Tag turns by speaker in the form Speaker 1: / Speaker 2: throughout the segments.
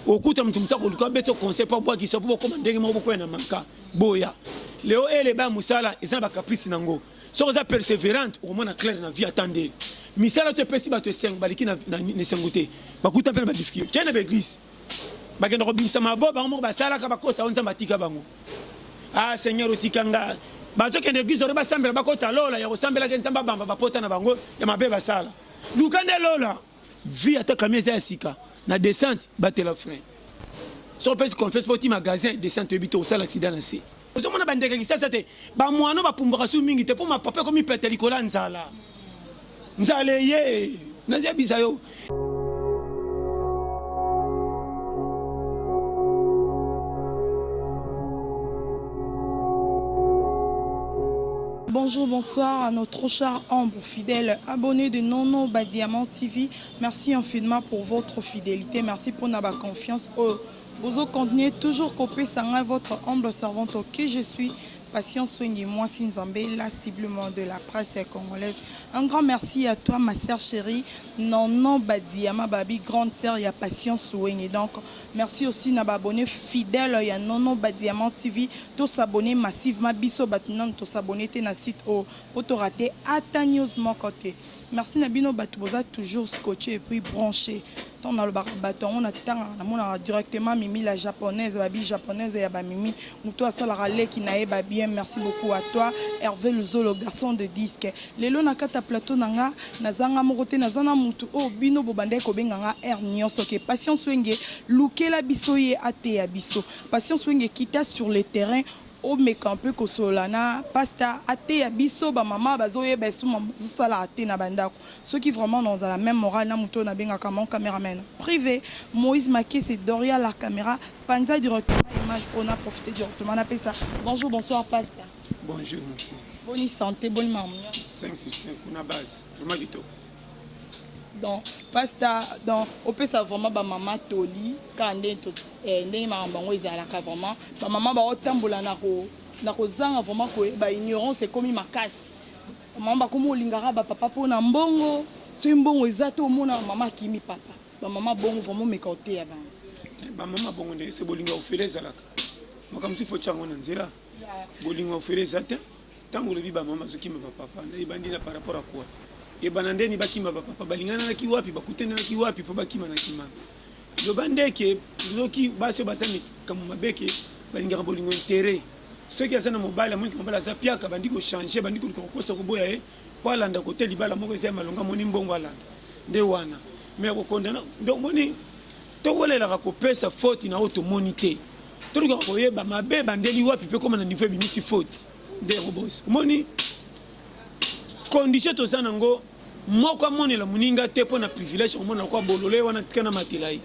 Speaker 1: okuta moto mosa koluka abeti yo conseil mpo abwakisa mpo bokoma ndenge moko bokwea na manka boya leo eleba ya mosala eza na bacaprice na yango soki oza perseverante okomona claire na vie ata nde misala to epesi bato esengo baliki na esengo te bakuta mpe na badifficulte kende baeglise bakenda kobimisa mabo bango moko basalaka bakosa o nzambe atika bango a ah, seigneur otika nga bazokende eglise ore basambela bakota lola ya kosambelaka nzambe abamba bapota na bango ya mabe basala luka nde lola Vue ata camion eza ya sika na descente batela frein. Soki opesi confiance po ti magasin descente oyebi te okosala accident na se. Ozo mona ba ndeke kisasa te ba muana ba pumbwaka su mingi te po mapapa ekomi pete likolo ya nzala. Nzala eye nazo yebisa yo. Bonjour,
Speaker 2: bonsoir à notre chère ombre. Fidèle abonne de Nono ba Diamant TV merci infiniment pour votre fidelite merci pona ba confiance oyo bozo continuer toujours kopesa ngai votre humble servante que je suis Patience Swenge Mwasi Nzambe la ciblement de la presse congolaise un grand merci à toi ma sœur chérie Nono ba Diamant babi grande sœur ya Patience Swenge donc merci aussi na ba abonne fidèle ya Nono ba Diamant TV to s'abonner massivement biso bato nanu to s'abonner te na site oyo Po to rate ata news moko te. Merci na bino batu boza toujours scotche et puis branche tango na lobaka batu yango na tangaka na monaka directement mimi la japonaise ba bi japonaise ya ba mimi mutu oyo asalaka leki na ye ba bien merci beaucoup à toi Herve Luzolo garçon de disque lelo na kata plateau na nga naza nga moko te naza na mutu oyo bino bo bandaki ko benga nga heure nioso ke Patience Wenge lukela biso ye ateya biso Patience Wenge kita sur le terrain Omeka mpe kosolola na pasta ateya biso ba mama bazo yeba esusu mamu bazo sala te na ba ndaku soki vraiment na ozala meme morale na mutu oyo na bengaka mon camera man prive moise makese doria la camera panza directement image oyo na profite directement na pesa bonjour bonsoir pasta bonjour monsieur
Speaker 1: boni sante boni
Speaker 2: mamu 5 sur 5
Speaker 1: kuna base vraiment kitoko
Speaker 2: donc pasta donc opesa vraiment ba mama toli kande toza Eh ndenge makambo yango ezalaka vraiment ba maman bao tambola na ko na kozanga vraiment ko ba ignorance ekomi makasi ba maman bakomi olingaka ba papa mpo na mbongo soki mbongo eza te omona mama akimi papa ba maman bongo vraiment meka oteya bango eh, ba maman
Speaker 1: bongo nde se bolinga ofele ezalaka makambo si fo chango na nzela bolinga ofele eza te Tangu olobi ba mama bazo kima ba papa ebandi na par rapport à quoi? Ebanda nde ni bakima ba papa balingananaki wapi bakutanelaki wapi po bakima na kima loba nde ke loki basi baza mikambo mabe ke balingaka bolingo interet soki aza na mobali amoni ke mobali aza piaka bandi ko changer bandi koluka kokosa koboya ye po alanda kote libala moko eza ya malonga amoni mbongo alanda nde wana mais kokondana nde omoni Tokolelaka kopesa foti na oyo tomoni te. Tolukaka koyeba mabe ebandeli wapi mpe ekoma na nivo ebimisi foti. Nde robosi. Omoni? Kondisio toza na ngo, moko amonela moninga te mpo na privilege, akomona lokola bolole ye wana, tika namatela ye.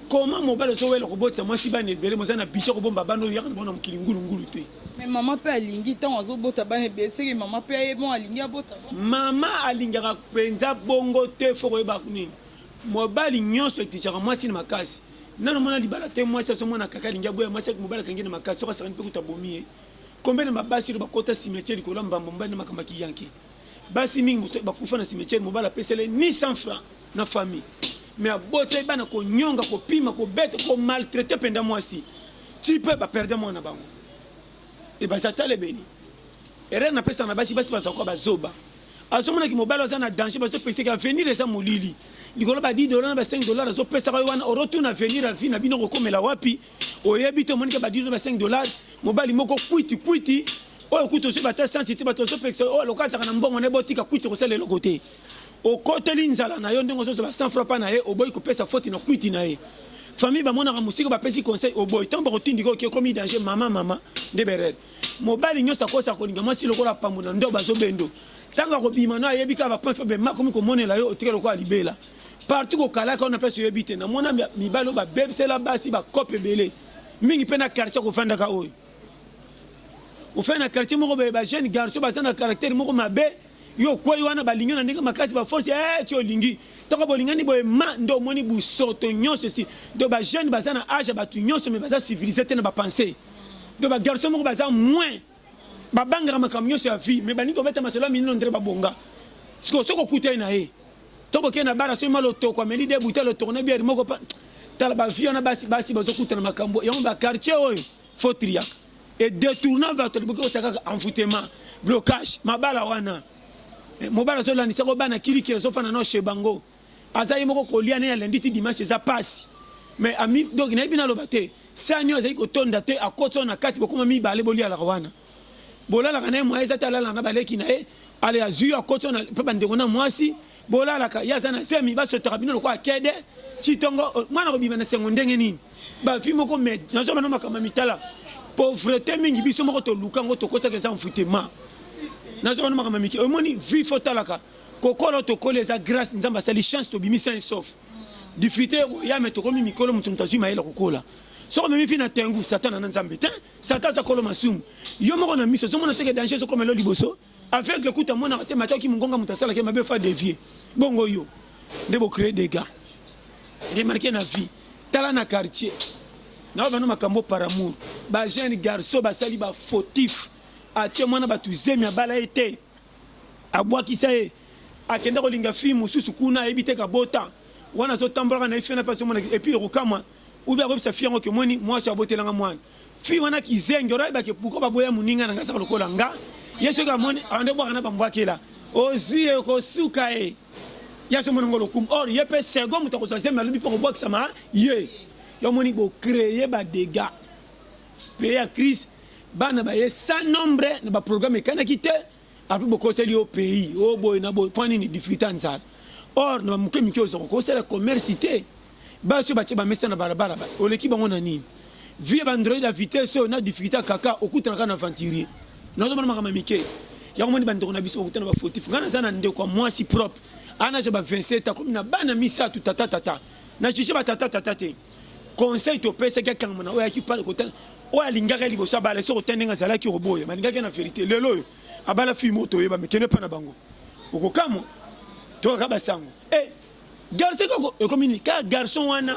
Speaker 1: Comment mobali ozowela kobotisa mwasi bana ebele moza na budget kobomba bana oyo yaka na bango na mokili ngulu ngulu te mais mama pe
Speaker 2: alingi ntango azobota bana ebele seke mama pe aye bon alingi abota mama
Speaker 1: alingaka mpenza bongo te fo koyeba nini Mobali nionso eteachaka mwasi na makasi nanu omona libala te mwasi azo mona kaka alingi aboya mwasi ake mobali akangi ye na makasi soki asakani pe kutu abomi ye combien de ma basi oyo bakota cimetiere likolo ya mbamba mobali nde makambo ya ki yanke basi mingi mosusu bakufa na cimetiere mobali apesela ye ni 100 franc na famille mais abota ye bana konyonga kopima kobeta ko maltraite penda mwasi ti pe ba perde mwana na bango et baza talebeni erreur na pesa na basi basi baza kwa bazoba azomona ki mobali aza na danger bazo pekisa ki avenir eza molili likolo ba 10 dollars na ba 5 dollars azo pesa yo wana oro tuna avenir ya vie na bino kokomela wapi oyebi te omonike ba 10 dollars ba 5 dollars mobali moko kwiti kwiti oyo kutu ozwi bata sansi te bato bazopekisa oyo aloka azaka na mbongo naye botika kwiti kosala eloko te okoteli nzala na yo ndenge ozozwa ba 100 francs pa na ye oboyi kopesa foti na kwiti na ye famille bamonaka mosika bapesi conseil oboyi ntango bakotindika oki ekomi danger mama mama nde berere Mobali nyonso akosa kolinga mwasi lokola pambo na ndobo azobendo. Tango akobima no ayebi kaka ba point faible ma komi komonela yo otika lokola libela. Partout kokalaka yo na place oyebi te. Na mona mibali oyo ba bebisela basi ba cope ebele. Mingi pe na quartier kofandaka oyo. Ofanda na quartier moko ba jeune garçon baza na caractère moko mabe. Yo okweyi wana balingi na ndenge makasi ba force eh ti olingi. Tango bolingani boye ma nde omoni busoto nyonso esi. Donc ba jeunes baza na age ya batu nyonso mais baza civilise te na ba pensee. donc ba garçon moko baza moins babangaka makambo nyonso ya vie mais balingi kobeta masolo ya minino ndre babonga sikoyo soki okutani na ye to bokei na bara soki ma lotoko ameli de buta lotoko na biere moko pa tala bavie wana basi basi bazokutana makambo yango bakartier oyo fo triaka e detourna bato liboki kosala kaka envoutema blocage mabala wana eh, mobala azolandisa ko bana kilikili azofanda nao chez bango aza ye moko kolia ne ya lundi ti dimanche eza pasi mais ami donc nayebi naloba te sani oyo azali kotonda te akoti oyo na kati bokoma mibale bolialaka wana bolalaka naye moyen eza te alalaka na baleki na ye ale azui akoti oyo pe bandeko na mwasi bolalaka ye aza na zemi basotaka bino lokola kede citongo mwana kobima na sengo ndenge nini bafi moko me nazo bana makambo ya mitala pauvrete mingi biso moko toluka yango tokosaka eza enfoutema nazo bana makambo ya mike omoni vi fo talaka Kokola tokoli eza grace nzambe asali chance tobimi sain sauf difficulté ya me tokomi mikolo moto moto azwi mayele kokola soki omemi fi na tengu satana na nzambe te satan aza kolo masumu yo moko na miso ozomona teke danger ezokoma elo liboso aveugle kuta amonaka te mataki mongonga moto asalaki mabe fa devie bongo yo nde bocree dega remarke na vie tala na quartier nao bano makambo par amour bajeune garçon basali bafautif atie mwana bato zemi abala ye te Abuakisa ye akenda kolinga fille mususu kuna ayebi te kabota wana azotambolaka na ye fille wana pe azomona et puis ekokamwa ou bien akoyebisa fille yango ke omoni muasi oyo abotela nga muana fille wana kizengi wana ayeba ke pourquoi baboya muninga na nga azalaka lokola nga ye soki amoni abanda kobuaka na ba mbuakela ozui ye okosuka ye ye azomona ngo lokumu or ye pe second moto akozwa zemi alobi pe akobuakisama ye yo omoni bo cree ba degats pe ya crise Bana baye sans nombre na ba programme ekanaki te après bokoseli yo pays o oh, boye na boye mpo nini difficulté ya nzala or na bamoke mike oza kokosala commerce te basi oyo batye bamesa na balabala oleki bango na nini vie bandroid ya vitesse oyo na difficulté ya kaka okutanaka na aventurier nazomona makambo ya mike yango moni bandeko na biso bakutana bafautif ngai naza na ndeko ya mwasi propre anaja ba 27 akomi na bana misato tata tata na juge ba tata tata te conseil to pesa ki kanga na oya ki pale kotala oya lingaka liboso abala soko tende nga zala ki roboya ba lingaka na verite lelo oyo abala fi moto yeba me kende pa na bango okokamo to ka basango eh garçon ko ekomi ni ka garçon wana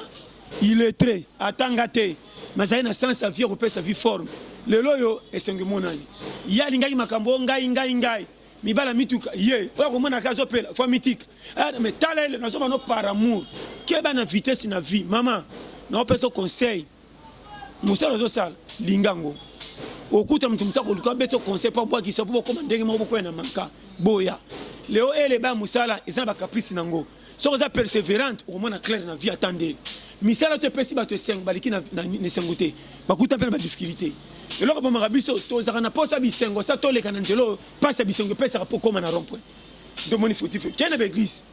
Speaker 1: il est très atanga te mazali na sens à vie ko pesa vie forme lelo oyo esengi monani ya lingaki makambo ngai ngai ngai mibala mituka ye oya komona ka azopela fo amitika eh, me tala ele nazoba no par amour keba na vitesse na vie mama naopesa conseil mosala ozosala linga ngo okuta moto mosa koluka abeti o conseil mpo abwakisa mpo bokoma ndenge moko bokwea na manka boya leo ele ba mosala eza na bacaprice na ngo Soki oza perseverante okomona clair na vie ata nde misala to epesi bato esengo baliki na esengo te bakuta mpe na badifficulté eloko bomaka biso tozalaka na mposa bisengo sa toleka na nzela oyo mpasi ya bisengo epesaka mpo okoma na rompoint ndomoni fautif kei na baeglise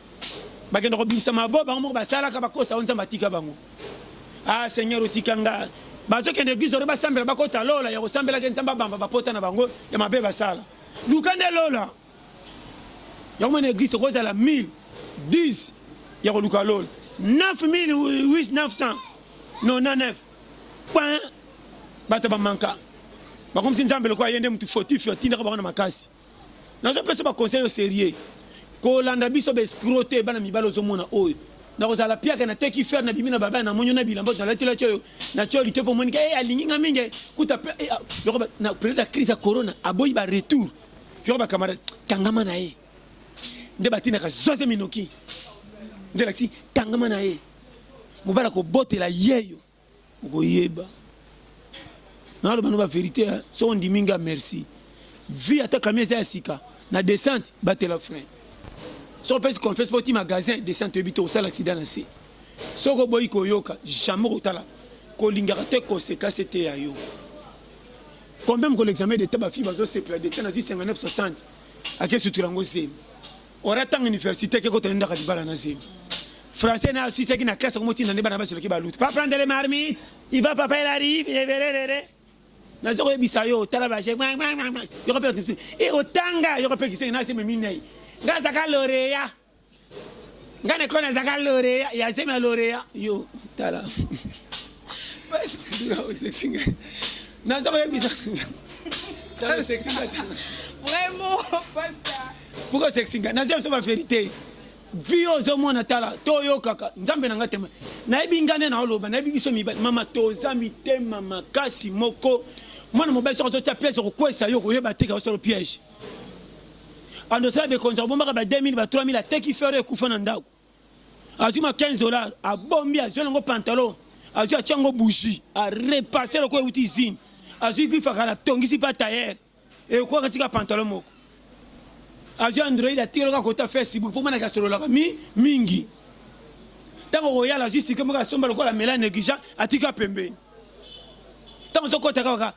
Speaker 1: bakenda kobimisa mabo bango moko basalaka bakosa o nzambe atika bango ah seigneur otika nga bazokende eglise ore basambela bakota lola ya kosambelaka nzambe abamba bapota na bango ya mabe basala luka nde lola Yango mwana eglise oko zala 1000 10 ya koluka lola 9999 point bato ba manka bakomisi nzambe lokola ye nde motu fautif atindaka bango na makasi nazopesa ba conseil yo serieux kolanda biso ba escro te bana mibali ozomona oyo nakozala piaka nateki fer na bimi na baba na monyo na bilamba nalatelaki oyo natyo lito mpo omonike e eh, alingi nga mingi kuta eh, ah, na periode ya crise ya corona aboyi ba retour yoko ba camarade kangama na ye nde batindaka zoze minoki nde lakisi kangama na ye mobali akobotela yeyo okoyeba naloba no baverité eh. soki ondimi nga merci vie ata kami eza ya sika na descente batela frein soki opesi confiance mpo ti magasin descente oyebi te osala aksida na se soki oboyi koyoka jamais kotala kolingaka te konsekanse te ya yo Combien mokolo examen d'etat ba filles bazo sepela d'etat nazui 59 60 ake sutura yango zemi ora tanga université ake kota ndaka libala na zemi français na ci saki na classe ko motinda nde bana basi baki baluta va prendre les marmites il va papa il arrive et verere na zoko yebisa yo tala ba je yoko pe kimsi e otanga yoko pe kisengi na zemi minei ngaza ka loreya nga na kona zaka loreya ya zemi ya loreya yo tala naza koyebisa
Speaker 2: pourquoi sexinga
Speaker 1: naza biso ba verité vi ozomona tala toyokaka nzambe na ngai tema nayebi ngai nde naoloba nayebi biso mibali mama toza mitema makasi moko mwana mobali soki azotya piège okokwesa yo koyeba te kaosalo piège andosela bekonzi abombaka ba 2000 ba 3000 ateki fere ekufa na ndako azwi ma 15 dollars abombi azwi nango pantalon azwi atya yango bougie arepasse lokola euti izine azwi bifakala atongisi mpe atayere ekoka tika pantalon moko azwi android atika lokola kota facebook mpo manaki asololaka mi mingi ntango okoyala azwi sike moko asomba lokola mela negligent atika pembeni ntango ozokota kaka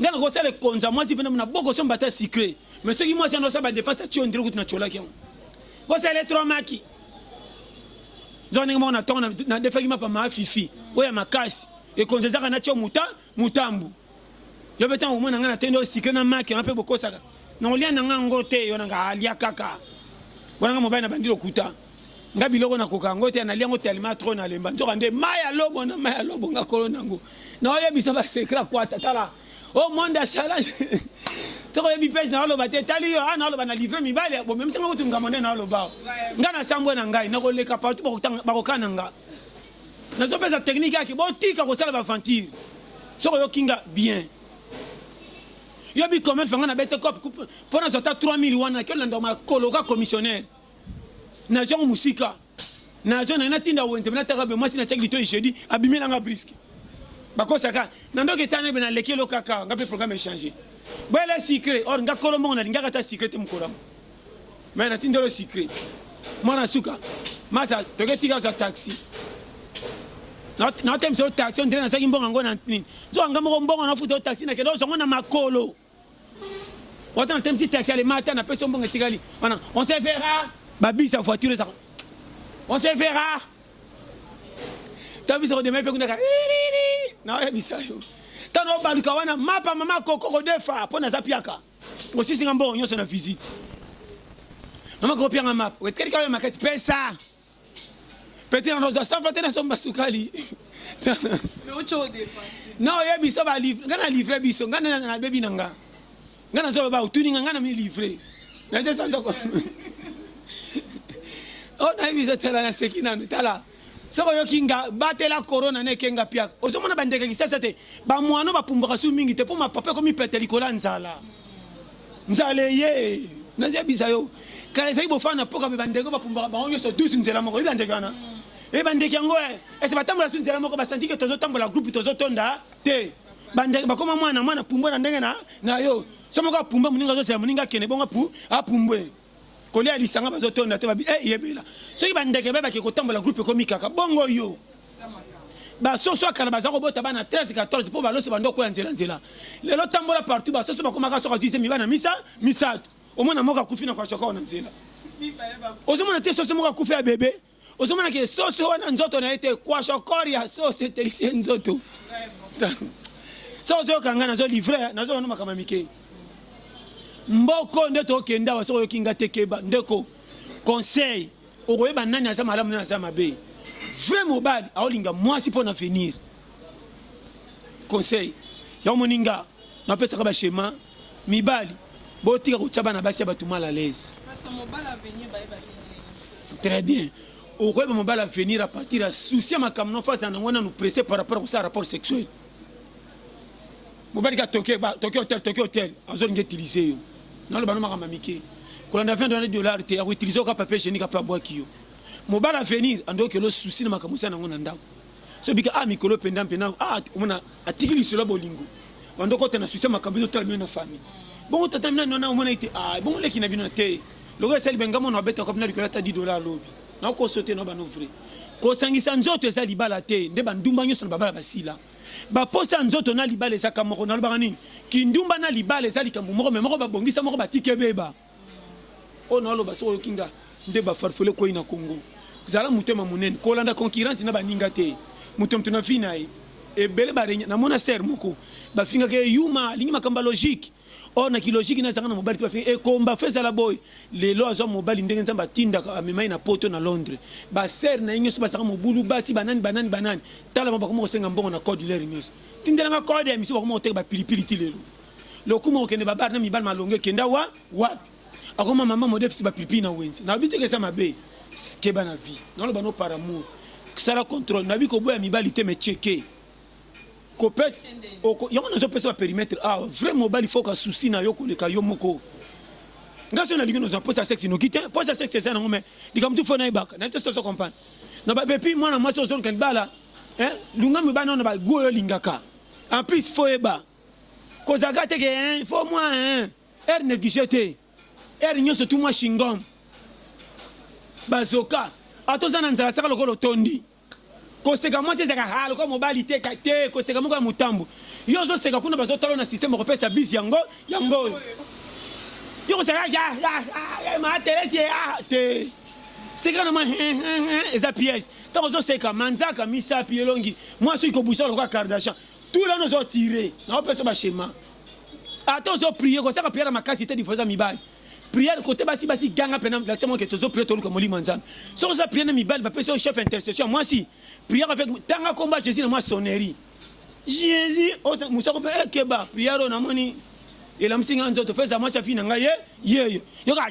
Speaker 1: Nga na kosala ekonza mwasi pena na boko somba ta sucre. Mais soki mwasi ando saba dépense ati on dirait kutu na cholaki yango. Bosa elle est trop maki. Nzo ndenge moko na tongo na, na defaki mapa ma fifi. Oya makasi. Ekonza zaka na cho muta mutambu. Yo betan au moins na nga na tendo sucre na maki na pe bokosaka. Na olia na nga ngo te yo na nga alia kaka. Wana nga mobali na bandilo kuta. nga biloko nakoka yango te nalia yango telema tro nalemba nzoka nde ma ya lobo na ma ya lobo nga kolo na yango naoyebisa basekla kwata tala o oh, monde ya challenge tokoyebi pese naoloba te tali yo a ah, naoloba na livre mibali ya bomemisi nga kutu ngambo nde naolobao nga nasambwe na ngai nakoleka partout bakokana nga nazopesa teknike yaki botika kosala baventure soki oyoki nga bien yo bikomete fanga nabete cope mpo nazwa ata 3000 wana kiolanda makoloka commissionnaire na jango musika na zone na tinda wenze na taka be mwasi na chaki to jeudi abimela nga brisque bakosaka na ndoki tana be na lekelo kaka nga pe programme changer bwele secret or nga kolo mongo na lingaka ta secret te mukolamo mais na tindelo secret mwana suka masa toke tika za taxi natemisa yo taxi ondire nazwaki mbongo yango na nini nzoka nga moko mbongo nafuta yo taxi nakende ozwango na makolo Wata na temti taxi ale mata na peso mbongo etikali. Wana on se verra. Ba bisi ya voiture ezako. On se verra. Ta bisi ko demain pe kuna ka. Na oya bisa yo. Ta no baluka wana mapa mama koko ko defa pona za piaka. Osisi nga mbongo nyonso na visite. Mama ko pianga mapa. Wetelika yo makasi pesa. Petit na noza safa te na somba sukali.
Speaker 2: Non ye biso ba livre
Speaker 1: nga na livre biso nga na na bebi na nga. Nga na zolo ba utuni nga nga na mi livre. Na te sanzo ko. Oh na biso tala na seki na tala. Soko yo kinga batela corona na kenga pia. Ozo mona ba ndeke kisasa te. Ba mwano ba pumbaka su mingi te po ma papa ko mi pete likola nzala. nzala eye nazebisa yo kala ezali bofana na mpoka me bandeko bapumbaka bango nyonso 12 nzela moko oyebi bandeko wana oyebi bandeko yango eh, ese batambola su nzela moko basanti ke tozotambola groupe tozotonda te bandeko bakoma mwana mwana pumbwe na ndenge na yo so moko apumba moninga azozela moninga akende bongo apu apumbwe Kolia ya lisanga bazo tonda te ba eh yebela. Soki ba ndeke ba baki kotambola groupe ekomi kaka bongo yo. Ba soso ya kala baza kobota bana 13 14 po ba loso bando ko ya nzela nzela. Lelo tambola partout ba soso bakomaka soka zuize mi bana misa misato. Omona moka kufi na kwa shoko na nzela. Ozomona te soso moka kufi ya bebe. ozomona ke soso wana nzoto na ye te kwashokor ya soso etelisi ye nzoto so ozoyoka ngai nazo livre nazo wana makambo ya mike mboko nde tokende awa soki oyoki ngai te keba ndeko conseil okoyeba nani aza malamu nani aza mabe vrai mobali aolinga mwasi mpo na venir conseil yango moninga napesaka bashema Mibali botika kotia bana basi ya bato mal à l'aise. Très bien. Okoyeba mobali avenir à partir ya souci ya makambo na face yango nanu presse par rapport kosala rapport sexuel. Mobali ka toke ba toke hotel toke hotel azolinga utiliser yo. Naloba no makambo mike. Kolanda 20 dollars te ya ko utiliser ka papier hygiénique apabwaki yo. Mobali avenir andoki lo souci na makambo sana yango na ndako. So bika ah mikolo penda mpe na ah omona atiki lisolo ya bolingo bando kota na susi makambo ezo tala bino na famille bongo tata mina nona omona ite ah bongo leki na bino na te lokola esali benga mona abeta kwa bina likolo ata 10 dollars lobi na ko sote na bano vrai kosangisa nzoto eza libala te nde bandumba nyonso na babala basila baposa ya nzoto na libala ezaka moko nalobaka nini kindumba na libala eza likambo moko me moko babongisa moko batiki ebeba oyo na aloba soki oyoki nga nde ba farfole koi na Congo zala motema monene kolanda concurrence na baninga te moto moto na vie na ye ebele ba renya na mona sœur moko bafingaka ye yuma alingi makambo ya logique or na kilogique na azanga na mobali te bafinga ekomba fe ezala boye lelo azwa mobali ndenge nzambe atindaka amema ye na poto na londres ba sœur na ye nyonso bazalaka mobulu basi banani banani banani talama bakoma kosenga mbongo na code lere nyonso tindelanga code ya miso bakoma koteka bapilipili ti lelo Lokumu okende ba bar na mibali malonga ekenda wa wapi? Akoma mama modèle si ba pipi na wenze. Na bite kesa mabe. Keba na vie. Na loba no par amour. Sala contrôle. Na biko boya mibali te me checker. Ko pesa oko yango nazo pesa ba périmètre. Ah, vrai mobali faut ka souci na yo koleka yo moko. Nga so na lingi noza posa sexe no kite. Posa sexe eza na ngome. Likambo tu faut na ibaka. Na testo so comprendre. Na ba bepi mwana mwasi ozo nkani bala. Hein? Lunga mibali na ba goyo lingaka. En plus faut eba. Kozalaka te ke hein, il faut mwa hein. Heure negliger te. Heure nionso tu mwa chingom. Ba zoka. Ata oza na nzala seka lokola otondi. Koseka mwasi ezalaka ha lokola mobali te ka te koseka moko ya mutambu. Yo ozo seka kuna bazo tala yo na système okopesa bise yango yango oyo. Yo kozalaka ya ya ya ma Therèse ye ah te. Seka na mwa hein hein hein eza piège. Tango ozo seka manzaka misapi elongi mwasi okoki ko bouger lokola Kardashian. tout là nous tirer na opesa ba schéma ata ozo prier kosaka prière ya makasi te divorce ya mibali prière kote basi basi ganga pena lakisa mwa ke tozo prier toluka molimo ya nzambe soki oza prière na mibali bapesi yo chef intercession mwasi prière avec tanga komba jésus na mwa sonnerie jésus mosako mpe ekeba prière oyo namoni elamsi ngai nzoto feza mwasi afi na ngai ye yeyo yoka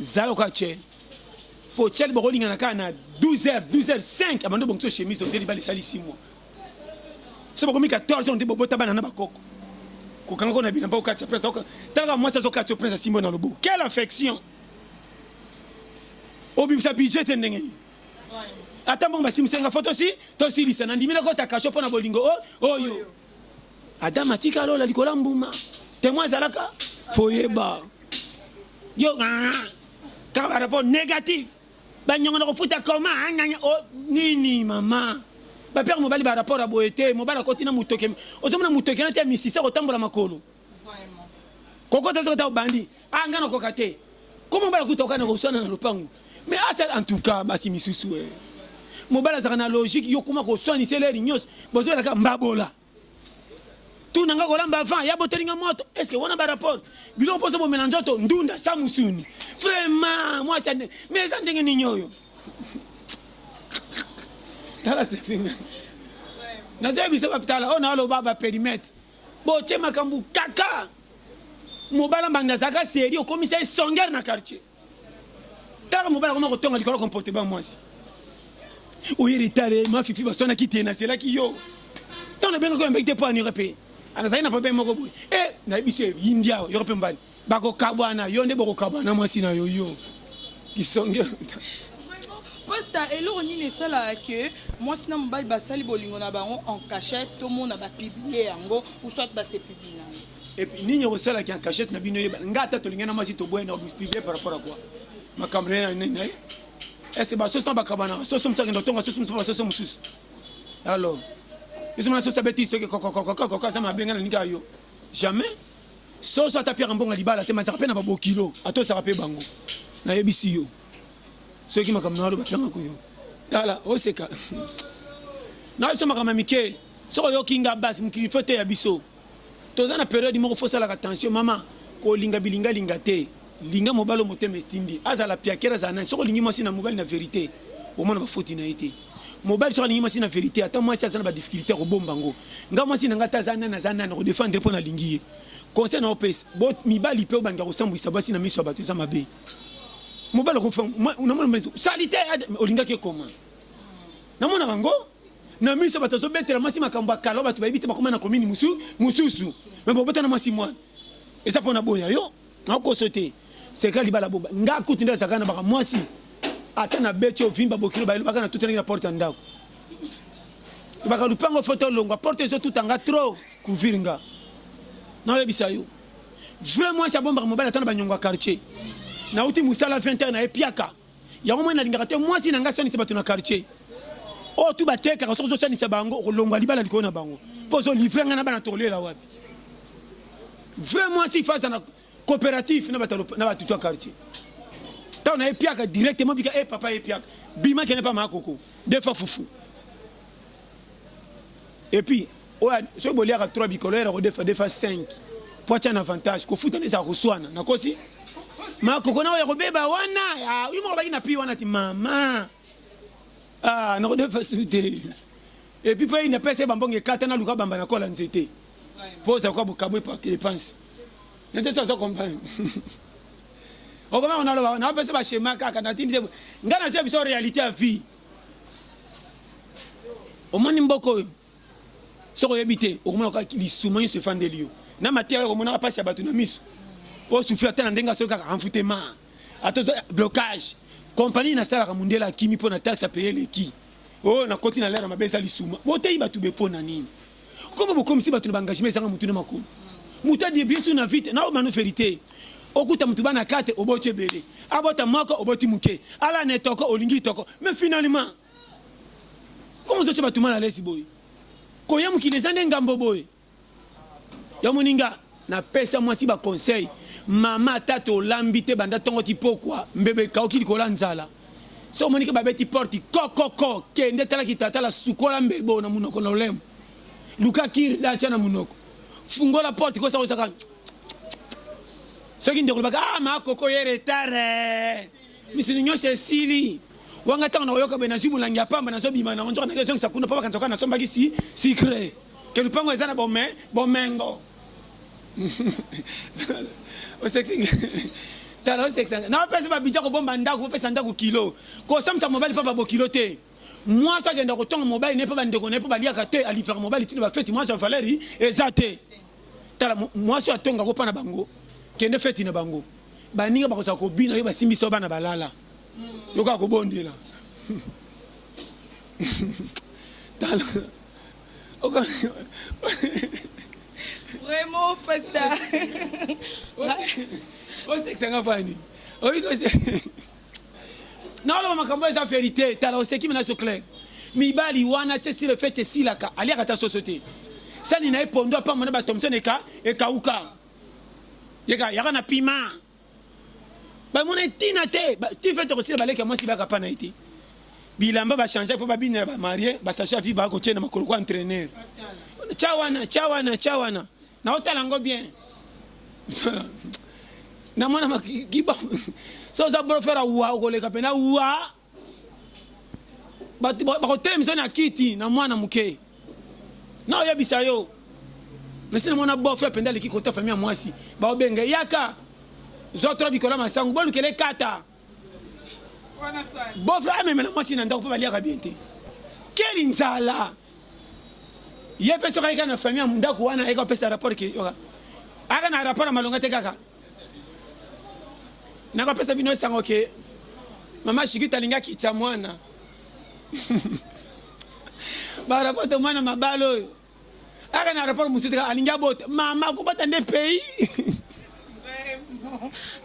Speaker 1: Zala lokola Chely. Po Chely bokolingana kaka na 12 heures, 12 heures 5 abandi obongisa yo chemise ote libala esali 6 mois. Soki bokomi 14 ans ote bobota bana na bakoko. Kokanga ko na bilamba okatisa prince akoka. Tala kaka mwasi azokatisa yo prince asimbi yo na loboko. Quelle affection! Obimisa budget te ndenge nini? Ata mbongo basimbisa nga fo tosi tosilisa. Nandimi nakota cachot po na bolingo oyo. Adam atika lola likolo ya mbuma. Temoin azalaka foyeba yo ka ba rapport négatif banyongo na kofuta koma oh, nini mama bapere mobali ba rapport ya boye te mobali akoti na motoke ozomona motoke na te ya misisa kotambola makolo kokota soki ata obandi ah nga nakoka te koma mobali akuta okana koswana na lopangu me asala en tout cas basi misusu e mobali azalaka na logique yo koma koswanisa eleri nyonso bozwelaka mbabola tu na nga kolamba avant ya botoli nga moto est ce que wana barapport biloko mposo bomela nzoto ndunda sa musuni vraiment mwasi ande me eza ndenge nini oyo tala sesinga nazoyebisa bapitala oyo naoloba baperimetre Botie makambo kaka. Mobala mbanda azalaka serie okomisa ye songeur na quartier. Kaka mobala akoma kotonga likolo comportement mwasi. Oye retard ma fifi basona kite na sela ki yo. Tant na benga ko yamba ite po anira pe. Anazali na problème moko boye. Eh na biso India yo pe mbali. Bakokabwana yo nde bokokabwana na mwasi na yo yo kisonge.
Speaker 2: Pasta eloko nini esalaka que mwasi na mobali basali bolingo na bango en cachette tomona ba publier yango ou soit ba se publier yango? Epuis nini
Speaker 1: ekosala ki en cachette na bino eyebana nga ata tolingi na mwasi toboye na publier par rapport à quoi makambo na nini na ye est-ce ba soso na bakabanaka soso mosusu akenda otonga soso mosusu ba soso mosusu alors biso mwana soso abeti soki kokokokokoko aza mabe nga nalingi ayo jamais Soso ata piaka mbongo ya libala te mais azalaka pe na ba bokilo atosaka pe bango nayebisi yo soki makambo naloba pianga ko yo tala oseka na biso makambo ya mike soki oyoki nga basi mokili fo eteya biso toza na periode moko fosalaka tension mama kolinga bilingalinga te Linga mobali oyo motema etindi. Azala piakere azala nani soki olingi mwasi na mobali na verite omona ba foti na ye te. Mobali soki alingi mwasi na verite ata mwasi aza na ba difficultes akobomba ngo. Nga mwasi na nga ata aza nani aza nani nako defendre ye po na lingi ye. Conseil nao pesa bo mibali pe obanda kosambwisa basi na miso ya batu eza mabe. Mobali akofa namona mais salite olingaki ekoma. Namonaka ngo na miso batu azo betela mwasi makambo ya kala batu bayebi te bakoma na commune musu mususu. Mais bobota na mwasi mwana eza pona boya yo. Nakoso te secret libala bomba nga kutu nde azalaka na baka mwasi ata na beti ovimba bokilo ba elobaka na tutelaki na porte ya ndako lobaka lupango foto olongwa porte ezotuta nga trop kuvir nga naoyebisa yo vrai mwasi abombaka mobali ata na banyongo ya quartier nauti mosala 20 heure na ye piaka Yango moi nalingaka te mwasi na ngai asanisa bato na quartier oyo tu batekaka soki ozosanisa bango okolongwa libala likolo na bango mpo ozolivre ngai na bana tokolela wapi vrai mwasi faza na coopérative na bato to quartier ntango naye piaka directement bika e eh, papa ye piaka bima kende mpa makoko defa fufu Et puis oyo soki boliaka 3 bikolo yera kodefa defa 5 po atia na avantage kofuta na ezala koswana nakosi makoko na oya kobeba wana ah, yo moko baki na pi wana ti mama ah, nakodefa su te epuis mpe na pese bambongo ekata naluka bamba na kola nzete mpo ozala kwa bokabwe epanse nete so azo comprendre okomaka naloba napesa bashema kaka natindi te ngai nazoya biso réalité ya vie omoni mboka oyo soki oyebi te okomona kaka lisuma nyonso efandeli yo na mateya oyo okomonaka mpasi ya bato na miso osufri ata na ndenge asoki kaka enfutema ata blocage kompani nasalaka mondele akimi mpo na taxe apaye eleki oyo oh, nakoti na lere mabe eza lisuma boteyi bato be mpo na nini Comment vous comme si bato na ba engagement ezanga mutu na makolo. Mutu adi bien sûr na vite na manu verite. Okuta mutu bana 4 oboti ebele. Abota moko oboti muke. Ala ne toko olingi toko. Mais finalement comment ozo tia bato mal à l'aise boye. Koya mokili eza nde ngambo boye. Ya moninga. Na pesa mwasi ba conseil mama ata to lambi te banda tongo ti pokwa mbeba ekauki likolo ya nzala soki omoni ke babeti porte kokoko kende tala kitatala sukola mbebo na munoko na olembo luka kir dacha na munoko fungola porte kosa kosaka soki ndeko lobaka ah ma koko ye retare misuni nyonso esili wanga ntango nakoyoka boye nazwi molangi ya pamba nazobima nango nzoka nake ezongisa kuna mpo bakanisa kaka nasombaki si sikre Que lupango eza na bome, bomengo. Osekisi nga. Tala osekisa nga. Na opesa ba budget kobomba ndako, opesa ndako kilo. Kosambisa mobali pa ba bokilo te. Mwasi akenda kotonga mobali ne pa ba ndeko ne pa baliaka te, alivraka mobali tina ba feti, mwasi ya valeri eza te. Tala mwasi atonga ko pa na bango. Kende feti na bango. Baninga bakozala kobina yo basimbisa yo bana balala. Yoka kobondela. Tala.
Speaker 2: Vraiment pasta.
Speaker 1: Osekisa nga fani. Oyi ko se. Na oloba makambo eza verite. Tala oseki mina so clair. Mibali wana tse si le fait tse silaka. Alia kata soso te. Sani na epondo apambo na ba Thompson eka ekauka. Yeka yaka na piment. ba mona tina te ti fait tokosila baleki ya mwasi baka pana ete bilamba ba changer po babina ya ba marie ba sachet avi ba kotie na makolo ko entraîneur cha wana cha wana cha wana na otala ngo bien na mona makiba so za bro fera wa okoleka pena wa bato bakotelemisa na kiti na mwana moke na oyebisa yo mesi na mwana bof mpenza aleki kota fami ya mwasi baobenga yaka zwa tro bikola masangu bolukele kata
Speaker 2: bof amemela mwasi
Speaker 1: na ndako mpe baliaka bien te keli nzala ye mpe soki ayika na fami ya ndako wana ayeka kopesa rapport ke ayaka na rapport ya malonga te kaka nakopesa bino esango ke mama shikita alingaki tya mwana barapoto mwana mabala oyo aka na rapport mosusu teka alingi abota mama akobota nde pays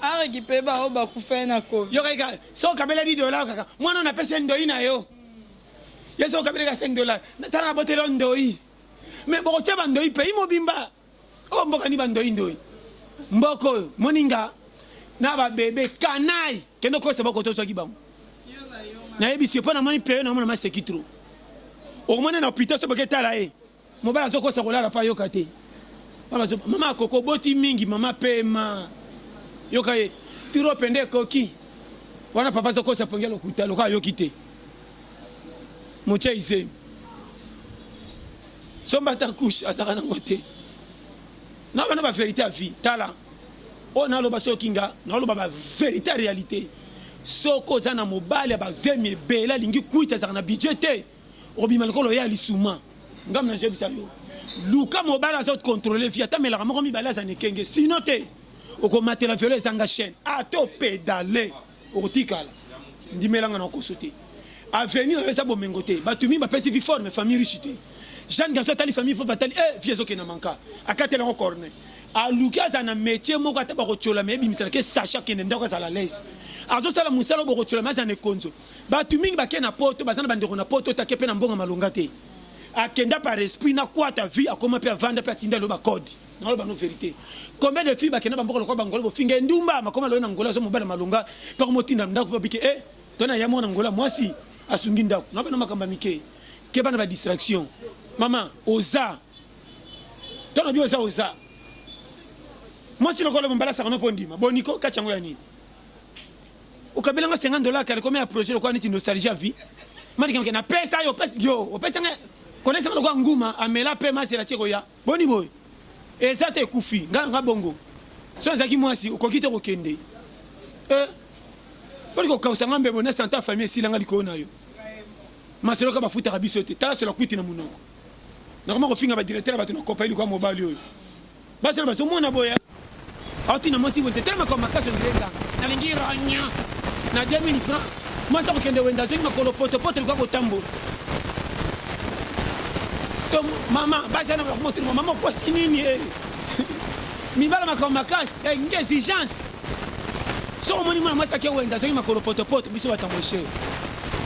Speaker 2: areki mpe baoyo bakufa na covid yokai kaka so okabela
Speaker 1: di dola kaka mwana oyo napesi ndoi na yo ye so okabeli ka 5 dola tala naboteli yo ndoi me bokotya bandoi pays mobimba Oyo mboka ni ba ndoyi ndoyi. Mboka oyo moninga na ba bebe canaille kende okosa boko tozwaki bango nayebisi yo mpo namoni peyo namona maseki tro okomona na hopita soki boke tala ye mobali azokosa kolala mpo ayoka te mama akoko oboti mingi mama pema yoka ye tiro pende ekoki wana papa azokosa pongi ya lokuta lokola ayoki te motia izemi Somba ata couche azaka nango te. Na bana ba verite à vie. Tala. Oyo na loba soki nga na loba ba verite à réalité. Soki oza na mobali ya ba zemi ebele alingi kuita azaka na budget te. Obima lokolo ya lisuma. Nga mna je bisa yo. Luka mobali azo contrôler vie ata melaka moko mibale aza nekenge. Sinon te. Okomatela velo ezanga chaîne. Ato pedale. Okotikala. Ndimela nga na koso te. Avenir nayo eza bomengo te. Batu mingi bapesi vie fort mais famille riche te. Jeanne Garçon atali famille propre atali eh vie ezokende na manka. Akatela yango corne. Aluki azala na metier moko ata bakotiola mais ebimisela ke sachet akende ndako azala à l'aise. Azosala musala oyo bokotiola mais azala na ekonzo. Batu mingi bake na poto baza na bandeko na poto te ake pe na mbongo ya malonga te. Akenda par esprit na kuata vie akoma pe avanda pe atinda loba code. nalo bano verite combien de filles bakenda bamboka lokola bangola bofinga endumba makoma loye na ngola azo mobala malonga mpe akomotinda ndako mpe abike e to na ya mwana ngola mwasi asungi ndako na bana makambo ya mike ke bana ba distraction mama oza to na bi oza oza mwasi lokola bombalasaka no mpo ondima boniko kati yango ya nini okabela nga 50 dollars kala komia projet lokola neti nostalgie ya vie malikamke napesa yo yo opesanga konesa nga lokola nguma amela mpe masela tie koya Boni boye eza te ekufi nga na nga bongo so ezalaki mwasi okoki te kokende eh, boni kokausa nga mbebo na santa famille esila nga likolo na yo masolo ka bafutaka biso te tala sola kwiti na munoko nakoma kofinga badirecteur ya bato na kopa iliko ya mobali oyo basala bazomona boya Atina mwasi wente tala makambo makasi ondire nganga. Nalingi ronya na 2000 francs. Mwasi akokende wende azongi makolo poto poto likoya kotambola. To mama basi ana bakoma tuma mama okwasi nini eh. Mibala makambo makasi eh, nge exigence. Soko moni mwana mwasi ake wende azongi makolo poto poto biso batamoshe.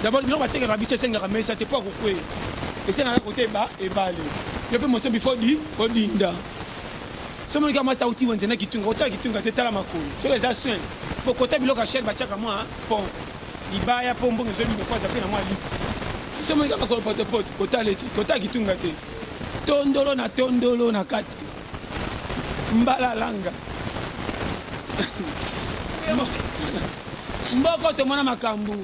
Speaker 1: D'abord biloko batekaka biso esengaka mesa te po akokwe. Esengaka kote ba ebale. Yo pe moso bifo di odinda. Soki omoni kaka mwasi auti wenze na kitunga, kotala kitunga te, tala makolo soki eza soin. Mpo kota biloko ya chere batiaka mwa pont libaya mpo mbongo ezwa bino mpo aza mpe na mwa luxe. Soki omoni kaka makolo potopoto, kotala ete kotala kitunga te. Tondolo na tondolo na kati mbalalanga mboko tomona makambo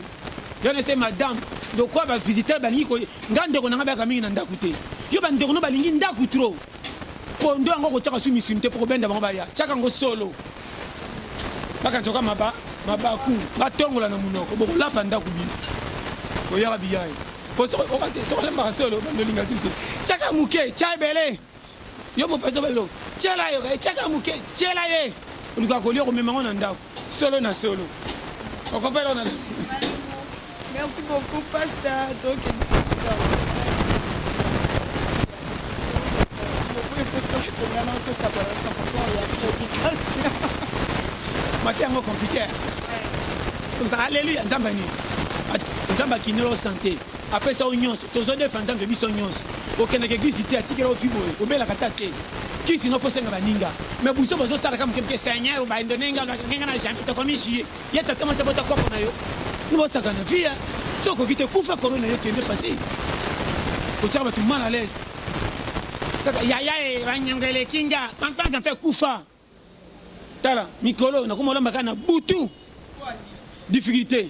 Speaker 1: yo na ese madame lokola bavisiteur balingi nga ndeko na ngai bayaka mingi na ndako te yo bandeko no balingi ndako trop Pondu yango kotiaka su misuni te mpo kobenda bango baya tiaka ngo solo bakanisa maba mabaku batongola na munoko bokolapa ndako bino koyaka biyayi mpo sokolembaka solo bandolinga su te tiaka moke tia ebele yo mopeso balilo tiela yo tiaka moke tiela ye olikoka kolia komema ngo na ndako Solo na solo. Okopela na
Speaker 2: Merci beaucoup pasteur. Donc
Speaker 1: mati yango compliquer alléluia nzambe nini nzambe akinelo sante Apesa yo nionso tozwa ndefa nzambe biso nionso okendaka eglise te atikela yo vie boye obelaka ata te kisi no fosenga baninga me buso bozo sala ka moke moke seigneur ba indonenga ngenga na jamais tokomi jie ye tata mwasi abota koko na yo nobosaka na vie so okoki te kufa corona yo kende pasi otyaka bato mal à l'aise kaka yaya e banyongo eleki nga pankpanka mpe kufa Tala mikolo oyo nakoma olamba kaka na butu difficulté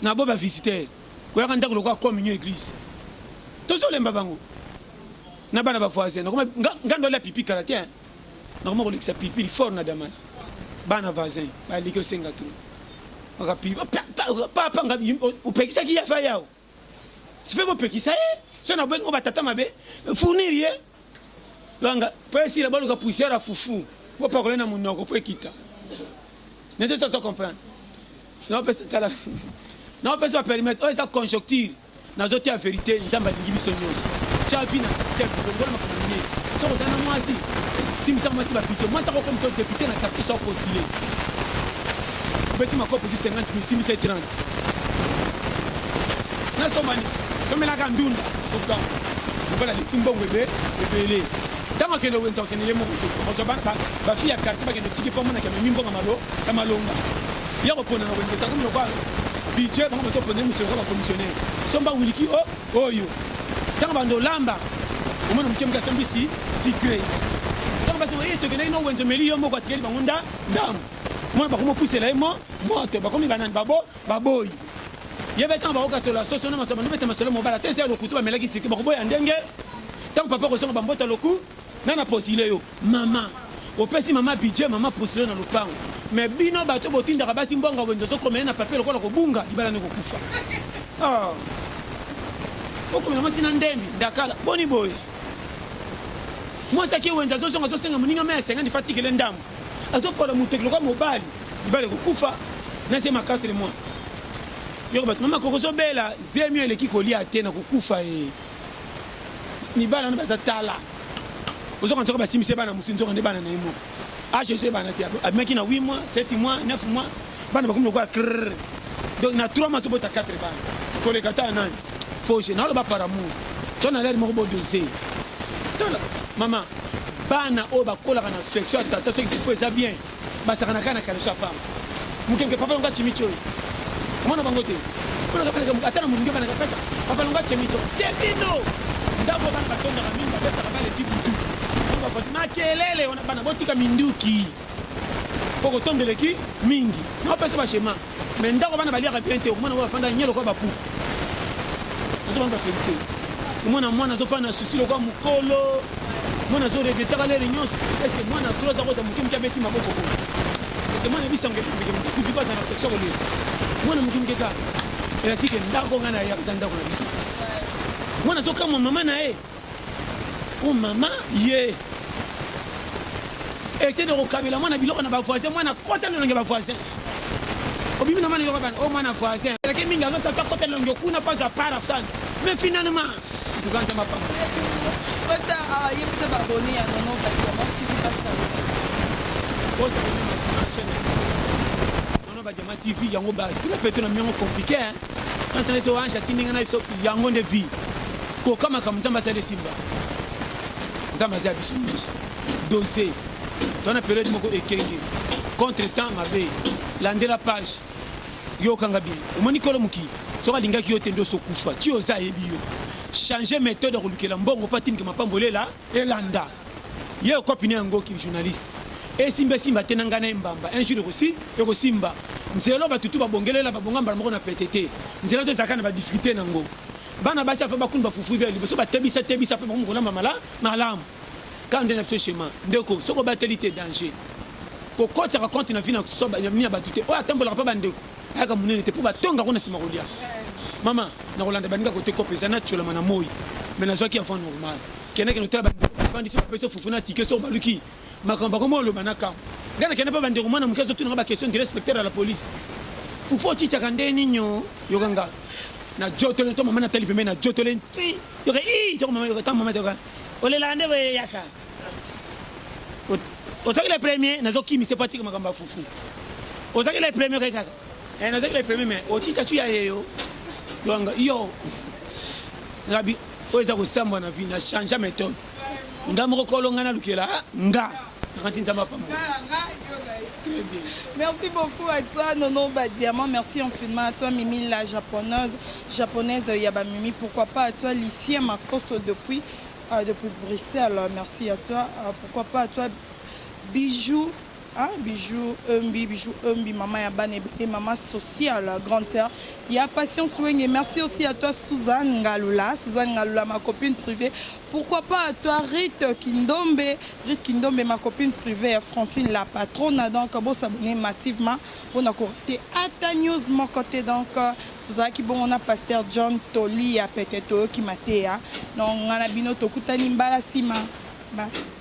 Speaker 1: na bo ba visiteur koyaka ndako lokola communion église tozolemba bango na bana ba voisin nakoma nga ndo alia pipi kala te nakoma kolekisa pipi fort na damas bana voisin baliki osenga tu papa opekisaki ya fa yao sipe kopekisa ye so na bengi ba tata mabe fournir ye langa po esila baluka poussière ya fufu bopakola na munoko po ekita nete soso comprendre naopesa tala naopesa baperimetre oyo eza conjoncture nazotia verité nzambe alingi biso nyonso tya vi na système longola makambo miye soko oza na mwasi simisa mwasi babidio mwasi akokomisa depute na quartier so postule obeti makopo ti 50 mil simisa 30 nasombani somelaka ndunda soka lokola liti mbongo ebe ebele ntango akende wenza okende ye moko te ozwa bafi ya quartier bakende tiki mpo amonaki amemi mbongo malo ya malonga ya kopona na wenza takomi lokola bidje bango bazopona ye mosolo lokola bacommissionnaire somba wiliki o oh, oyo ntango bando olamba omona moke moke asombisi sikre ntango basi oye tokendaki no wenza omeli yo moko atikeli bango nda ndambo mwana bakomi opusela ye mo moto bakomi banani babo baboyi ye betanga bakokasola soso na masolo bandobeta masolo mobala te eza ya lokutu bamelaki siki bakoboya ndenge ntango papa kozonga bambota loku na na postule yo mama opesi mama budget mama postule na lopango me bino bato botindaka basi mbongo wenze ozokomele na papier lokola kobunga libala nde kokufa ah. okomela mwasi na ndembi ndakala boni boye mwasi ake wenze azozonga azosenga moninga mai asengani fatikele ndambo azo pola mutoki lokola mobali mibali ekokufa na zema 4 mois yoko bato mama koko zobela zemi eleki kolia te na kokufa e eh. mibali wana baza tala ozoka nzoka basimbisi bana mosusu nzoka nde bana na ye moko age ezo ebana te abimaki na 8 mois 7 mois 9 mois bana bakomi lokola krrr donc na 3 mois obota 4 bana koleka ta nani fauche naloba par amour to na lere moko bodose tala mama bana oyo bakolaka na affection ya tata soki fifo eza bien basakanaka na kaleso ya pamba moke moke papa longa chimicho oyo omona bango te ata na molingi banaka peta papa longa chimicho te bino ndako bana batondaka mingi babetaka bana ekipe tu makelele wana bana botika minduki Koko tonde eleki mingi nao pesa ba schema mais ndako bana baliaka bien te okomona ngo bafanda nye lokola ba puku azo banga verite omona mwana azo fana souci lokola mukolo mwana azo regretaka lere nyonso est ce que mwana trop aza koza moke moke abeti maboko ko est ce que mwana ebisango ebimike moke kutu baza na affection kolela mwana moke moke kaka elakisi ke ndako ngai na yaka eza ndako na biso mwana azokamwa mama na ye Hum maman ye Etienne okokabela mwana biloko na ba voisin mwana kota lolenge ba voisin obimi na mwana yoko bana o mwana voisin eleke mingi azosa ta kota lolenge okuna mpo azwa part afsana mais finalement ntuka nzambe apamba Costa
Speaker 2: ayebisa ah, baboni ya nono kasi ya mosiki pasaka osa komema
Speaker 1: sima chaine ba jama tv yango ba style peto na miongo compliqué hein antana so anja kininga na biso yango nde vie ko kama kam nzamba sale simba nzamba za biso biso dose tona periode moko ekenge contre temps mabe landela page yo kanga bien omoni kolo muki soka lingaki yo tendo so kufa ti oza yebi yo changer méthode ya kolukela mbongo mpo atimike mapambolela elanda Ye okopi na yango ki journaliste. Esimba esimba te na ngai na ye mbamba un jour ekosi ekosimba. Nzela oyo batu tout ba bongelela ba bonga mbala moko na pete te. Nzela to ezalaka na ba difficultes na ngo. Bana basi ya fa bakun ba fufu bia liboso ba tebisa tebisa après bakomi kolamba mala malamu. Kaka nde na biso chemin. Ndeko soki obateli te danger. Ko kotisaka compte na vie na so na vie ya batu te. Oyo atambolaka pa ba ndeko ayaka munene te po ba tonga ngo na sima kolia. Maman nakolanda baninga kote coop eza na tshiolama na moyi mais nazwaki avant normal. Kende kende otala bande bande soki bapesi yo fufu na tike soki baluki makambo bakoma oloba na kambo ngai nakende mpe bandeko mwana moke azotuna nga baquestion dire inspecteur ya la police fufu otichaka nde nini o yoka nga na jotole to mama natali pembe na jotole nti yoka i toko mama yoka ta mama toka olelaka nde boye yaka ozalaki le premier nazokimisa epo atika makambo ya fufu ozalaki le premier kaka Eh, nazaki le premier mais otita tu ya yeyo yanga yo rabi oyo eza kosambwa na vie na changea méthode nga moko kolo nga nalukela ah, nga nakanti nzambe apambo
Speaker 2: Merci beaucoup à toi, Nono Badiamant. Merci infiniment à toi, Mimi, la japonaise, japonaise Yabamimi. Pourquoi pas à toi, Lucien Makoso depuis, euh, depuis Bruxelles. Merci à toi. Euh, pourquoi pas à toi, Bijoux Ah bijoux Eumbi bijoux Eumbi maman ya bana ebele maman sociale grande sœur ya patience wenge merci aussi à toi Suzanne Ngalula Suzanne Ngalula ma copine privée pourquoi pas à toi Rite Kindombe Rite Kindombe ma copine privée ya Francine la patrona donc bo s'abonner massivement pona ko rater ata news moko te donc tozalaki bongo na pasteur John Tolia peut-être toyoki mateya donc ngana bino tokutani mbala sima ba